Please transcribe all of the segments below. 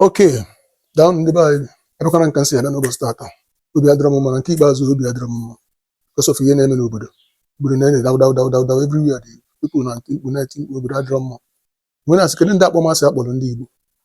okay daa ndị be anyị abịakwana m ka m si abịa n'ụbọchị tata obi adịrọ m mma na nke ikpeazụ obi adịrọ m mma because of ihe na-eme n'obodo obodo na-enye daw daw daw daw daw everywhere the people na-eti mkpu na-eti mkpu obodo adịrọ mma m wee na-asị kedu ụdị akpọmasị a kpọrọ ndị Igbo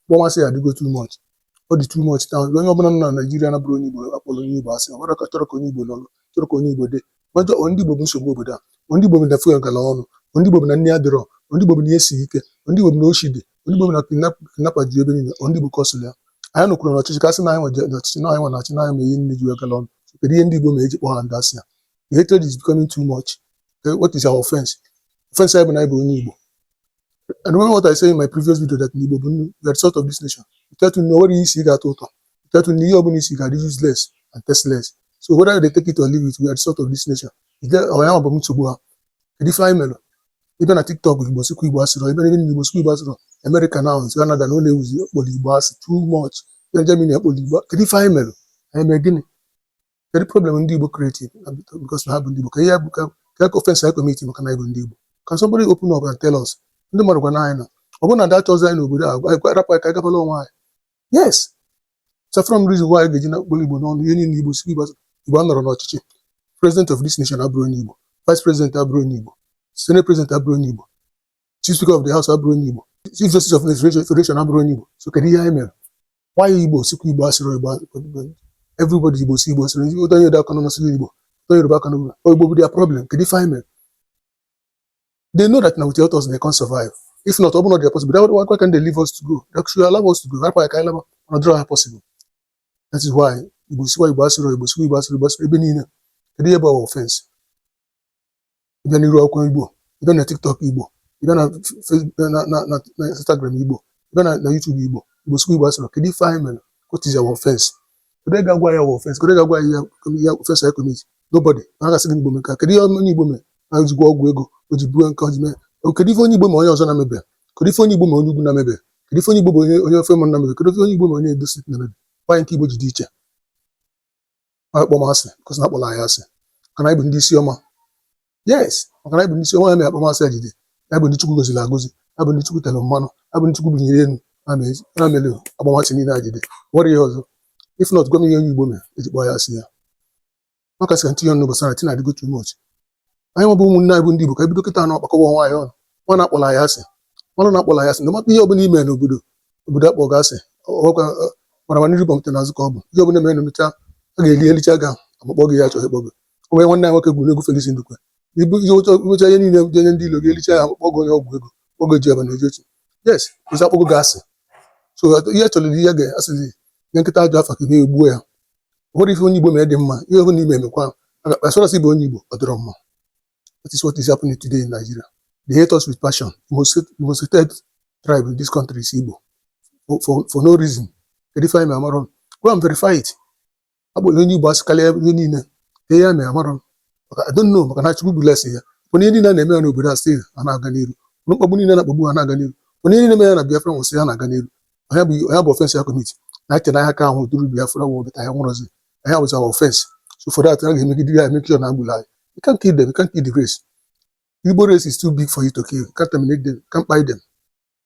akpọmasị a adịgo too much ọ dị too much taa onye ọbụla nọ na Naịjirịa na-abụrọ onye Igbo kpọrọ onye Igbo asị ọ bụrụ ka chọrọ ka onye Igbo nọrọ chọrọ ka onye Igbo dị majọ ndị Igbo bụ nsogbu obodo a ndị Igbo bụ na fuel gara ọnụ ndị Igbo bụ na nni adịrọ ndị Igbo bụ na ihe siri ike ndị Igbo bụ na oshi dị ndị Igbo bụ na kidnapper ju ebe niile ndị Igbo kọsịrị ya anyị nọkwanụ na ọchịchị ka a sị na anyị nwa jee na ọchịchị na anyị nwa na-achị na anyị mee ihe nni ji wee gala ọnụ kedu ihe ndị Igbo mee e ji kpọọ ha ụdị asị a the hatred is becoming too much Eh, what is our offense offense anyị bụ na anyị bụ onye Igbo I remember what I said in my previous video that Igbo bụ nnu, we are the salt of this nation. I tirọ nnu, o nwerọ ihe i si ga-atọ ụtọ. I tirọ nnu, ihe ọbụla i si ga-adị useless and tasteless. So whether they take it or leave it, we are the salt of this nation. Ide ọya ma bụ m nsogbu ha. Kedu ife anyị mere? ịbịa na tiktok igbo sikwa igbo asịrọ ebe niile igbo sikwa igbo asịrọ amerịka now kanada now na-ewuzi akpọrọ igbo asị too much na germany akpọrọ igbo kedu ife anyị mere anyị mee gịnị kedu problem ndị igbo created because na ha bụ ndị igbo kee ihe bụ ka ka ka offense anyị commit maka na anyị bụ ndị igbo can somebody open up and tell us ndị mmadụ gwanụ anyị na ọ bụrụ na ada achọzi anyị n'obodo a a rapụ anyị ka anyị gabalụ onwe anyị yes afụrọ m reason why a ga-eji na-akpọ igbo n'ọnụ ihe niile igbo sikwa igbo anọrọ n'ọchịchị president of this nation abụrọ onye igbo vice president abụrọ onye igbo senate president abụrọ onye igbo chief speaker of the house abụrọ onye igbo chief justice of the federation abụrọ onye igbo so kedu ihe anyị mere why igbo sikwa igbo asịrọ igbo everybody igbo si igbo asịrọ ụtọ onye dị aka n'ọnụ sịrị igbo ụtọ yoruba aka n'ọnụ igbo bụ their problem kedu ife anyị mere they know that na without us they can't survive if not ọ bụrụ na ọ dị possible that why can't they leave us to go they should allow us to go hapụ anyị ka anyị laba mana ọ dịrọ ha possible that is why igbo siwa igbo asịrọ igbo siwa igbo asịrọ igbo asịrọ ebe niile kedu ihe bụ our offense ịbịa n'iru akwụkwọ igbo ịbịa na tiktok igbo ịbịa na Facebook- na na na na instagram igbo ịbịa na na youtube igbo igbo siwa igbo asịrọ kedu ife anyị mere what is our offense Onye ga-agwa anyị our offense? Onye ga-agwa anyị offense anyị commit? Nobody. Ha ga-asị gị Igbo mee ka kedu ihe onye Igbo mee? Ha ji gwọọ ọgwụ ego o ji buru nke o ji mee. Kedu ife onye Igbo mee onye ọzọ na-emebe? Kedu ife onye Igbo mee onye ugwu na-emebe? Kedu ife onye Igbo mee onye onye ofe mmanụ na-emebe? Kedu ife onye Igbo mee onye Edo State na-emebe? Why nke Igbo ji dị iche. Ọ akpọmasị, because na akpọla anyị asị. Maka na anyị bụ ndị isi ọma. yes maka na anyị bụ ndị isi ọma ya mere akpọmasị a ji dị anyị bụ ndị Chukwu goziri agozi anyị bụ ndị Chukwu tere mmanụ anyị bụ ndị Chukwu bunyere elu ya mere- ya mere akpọmasị niile a ji dị o nwerọ ihe ọzọ if not gwa m ihe onye Igbo mere eji kpọọ ya asị a maka sị ka m tinye ọnụ gbasara thing a adịgo too much anyị nwa bụ ụmụnne anyị bụ ndị Igbo ka anyị bido kịta na-akpọkọwa onwe anyị ọnụ maa na akpọla anyị asị manụ na akpọla anyị asị na mata ihe ọbụla ime n'obodo obodo akpọ gị asị ọkwa mara mma n'iru bọmte n'azụ ka ọ bụ ihe ọbụla mere n'omecha a ga-eli elicha ga amakpọ gị ya achọghị ịkpọ gị o nwere nwanne anyị nwoke gụrụ egwu Felix Ndukwe ibu ihe ụcha ụcha ihe niile dị onye ndị ilo ga-elicha ya akpọkwa gị onye ọgwụ ego oge ji ebe na eji otu yes ụzọ akpọgo gị asị so ihe chọrọ ihe ga asịzi nye nkịta ajọ afa ka e wee gbuo ya o nwerọ ife onye Igbo mere dị mma ihe ọbụna i me emekwa as far as ị bụ onye Igbo ọ dịrọ mma that is what is happening today in Nigeria they hate us with passion the most the most hated tribe in this country is Igbo for, for, for no reason. Ife anyị me, amarọ m. Go and verify it. a kpọ onye Igbo asị karịa ihe niile ihe ya mere amarọ m I don't know maka na Chukwu bless ya mana ihe niile na-eme ya n'obodo a still ha na-aga n'iru na mkpagbu niile na-akpagbu ha na-aga n'iru mana ihe niile mere ya na Biafra war still ya na-aga n'iru ọ ya bụ ọ ya bụ offence ya commit na eche na aka ka anwụ during Biafra war but ya nwụrọzi ya bụzi our offence so for that a ga-emegide ya e make sure na egburu anyị you can't kill them you can't kill the race Igbo race is too big for you to kill you can't terminate them you can't buy them